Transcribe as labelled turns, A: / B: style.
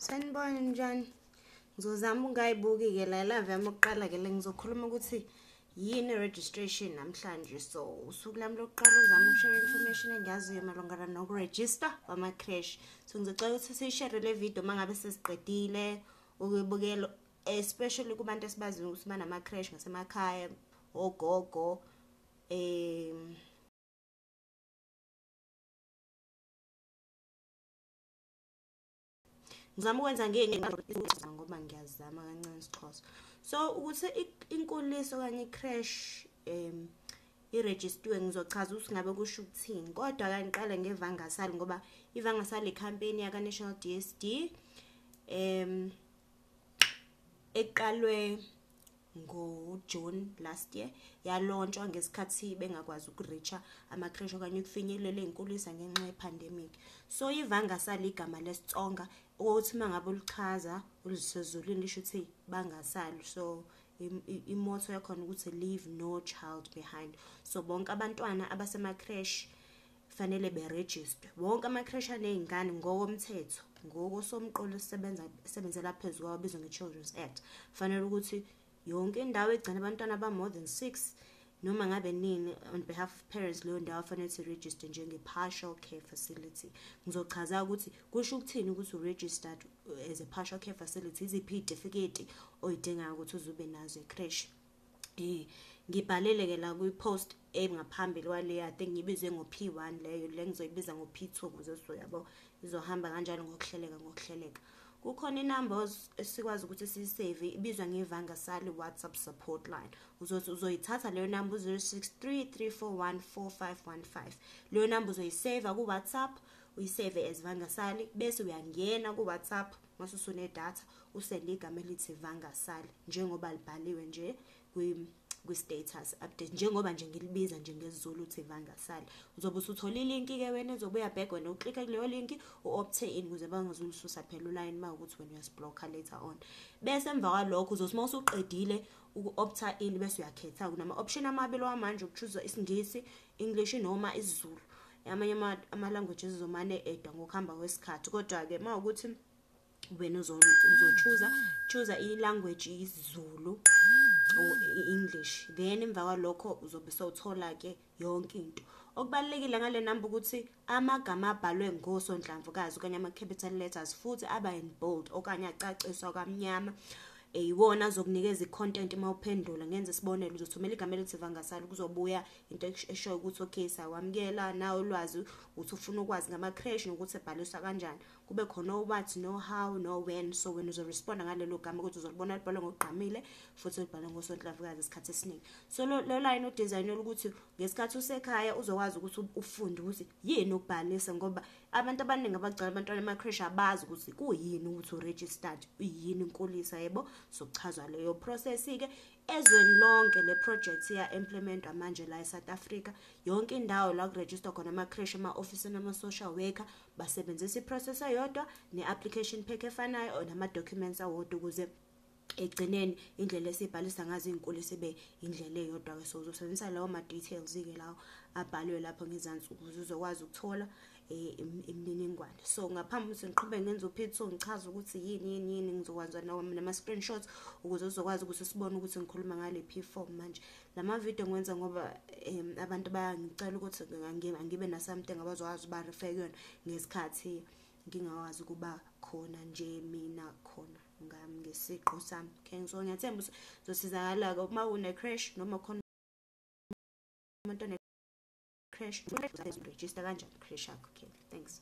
A: sanibona njani ngizozama ungayibuki-ke la ilava yami okuqala-ke le ngizokhuluma ukuthi yini i-registration namhlanje so usuku lami lokuqala uzama ukushare information engiyaziyo malungana nokurejista kwama-crash so ngizocela ukuthi siyishere le video uma ngabe sesiqedile ukuyibukela especially kubantu esibaziyo ukuthi banama crash ngasemakhaya ogogo um ngizama ukwenza ngenyanga ngoba ngiyazama kancane isixhosa so ukuthi inkuliso okanye i-crash um irejistiwe ngizochaza ukuthi ngabe kusho ukuthini kodwa kangiqale ngevangasali ngoba ivangasali ikhampeni yaka-national d s d um eqalwe ngo-June last year yalontshwa ngesikhathi bengakwazi ukureacha amakreshi okanye ukufinyelela ey'nkulisa ngenxa ye-pandemic so ivanga sali igama lesitsonga ukuthi uma ngabe ulichaza ulisezulwini lisho ukuthi bangasali so imoto yakhona ukuthi leave no child behind so bonke abantwana abasemakreshi Kufanele berejistwe wonke amakreshi aney'ngane ngokomthetho, ngokosomqulu esisebenza esebenzela phezu kwawo obizwa nge-Children's Act. Kufanele ukuthi yonke indawo egcina abantwana aba-more than six noma ngabe nini on behalf of parents leyo ndawo afanele ukuthi register njenge-partial care facility ngizochaza ukuthi kusho ukuthini ukuthi u-registered uh, as a partial care facility iziphi iy'tifiketi oyidingayo ukuthi uze ube nazo ekreshi Eh ngibhalele ke la kwi post engaphambili kwale I think ngibizwe ngo P1 leyo le ngizoyibiza ngo P2 kuze sizoyabo izohamba kanjalo ngokuhleleka ngokuhleleka kukhona inamba esikwazi ukuthi siyisave ibizwa ngevanga sali WhatsApp support line uzothi uzoyithatha leyo namba u 0633414515 leyo namba uzoyisave ku WhatsApp uyisave as vanga sali bese uyangena ku WhatsApp mase usune data Usele igama elithi Vangasali njengoba libhaliwe nje kwi kwi-status update njengoba nje ngilibiza nje ngesiZulu uthi vangasali uzobe usuthola ilinki ke wena ezobe uyabheka wena uklike kuleyo linki u-opte in ukuze bangazulususa phela ulayini uma ukuthi wena uyasiblocker later on bese emva kwalokho uzothi uma usuqedile uku-opta in bese uyakhetha kunama-option amabili wamanje ukuchuza isingisi english noma isizulu amanye ama-languages zomane edwa ngokuhamba kwesikhathi kodwa-ke uma ukuthi wena uzochuza chuza i-language isiZulu or i-English then emva kwalokho uzobe sowuthola ke yonke into okubalekile ngale number ukuthi amagama abhalwe ngosonhlamvukazi okanye ama capital letters futhi aba in bold okanye acaciswa kamnyama eyiwona azokunikeza i-content uma uphendula ngenze isibonelo uzothumela igama elithi vangasali kuzobuya into eshoyo ukuthi okay sawamukela nawe ulwazi ukuthi ufuna ukwazi ngama-crash nokuthi ebhaliswa kanjani kube khona o-what no-how no-when so wena uzoresponda ngalelo gama ukuthi uzolibona libhalwe ngokugqamile futhi ulibhalwe ngosonhlamvukazi isikhathi esiningi so lo line udizayinela ukuthi ngesikhathi usekhaya uzokwazi ukuthi ufunde ukuthi yini ukubhalisa ngoba abantu abaningi abagcala abantwana ema-crash abazi ukuthi kuyini ukuthi uregistered uyini inkulisa yebo sokuchazwa leyo process-ke Ezweni lonke le project iya-implementwa manje la eSouth Africa. Yonke indawo la kurejistwa khona ama-creche, ama-ofisini ama-social worker basebenzisa i-process eyodwa ne-application pack efanayo or nama-documents awodwa ukuze ekugcineni indlela esibhalisa ngazo iy'nkulu sibe indlela eyodwa-ke so uzosebenzisa lawo ma-details-ke lawo abhalwe lapho ngezansi ukuze uzokwazi ukuthola eh, imininingwane so ngaphambi ukuthi ngiqhube ngenza uphithiso ngichaza ukuthi yini yini yini ngizokwenza nama-screenshots ukuze uzokwazi ukuthi sibone ukuthi ngikhuluma ngalephi form manje la mavidiyo ngiwenza ngoba um abantu bayangicela ukuthi ngibe na-something abazokwazi uba refe kuyona ngesikhathi ngingakwazi ukuba khona nje mina khona ngami ngesiqu sami okay so ngiyathemba ukuthi zosizakala-ke uma une-crash noma khona umuntu crash usaphezulu register kanjani crash yakho okay thanks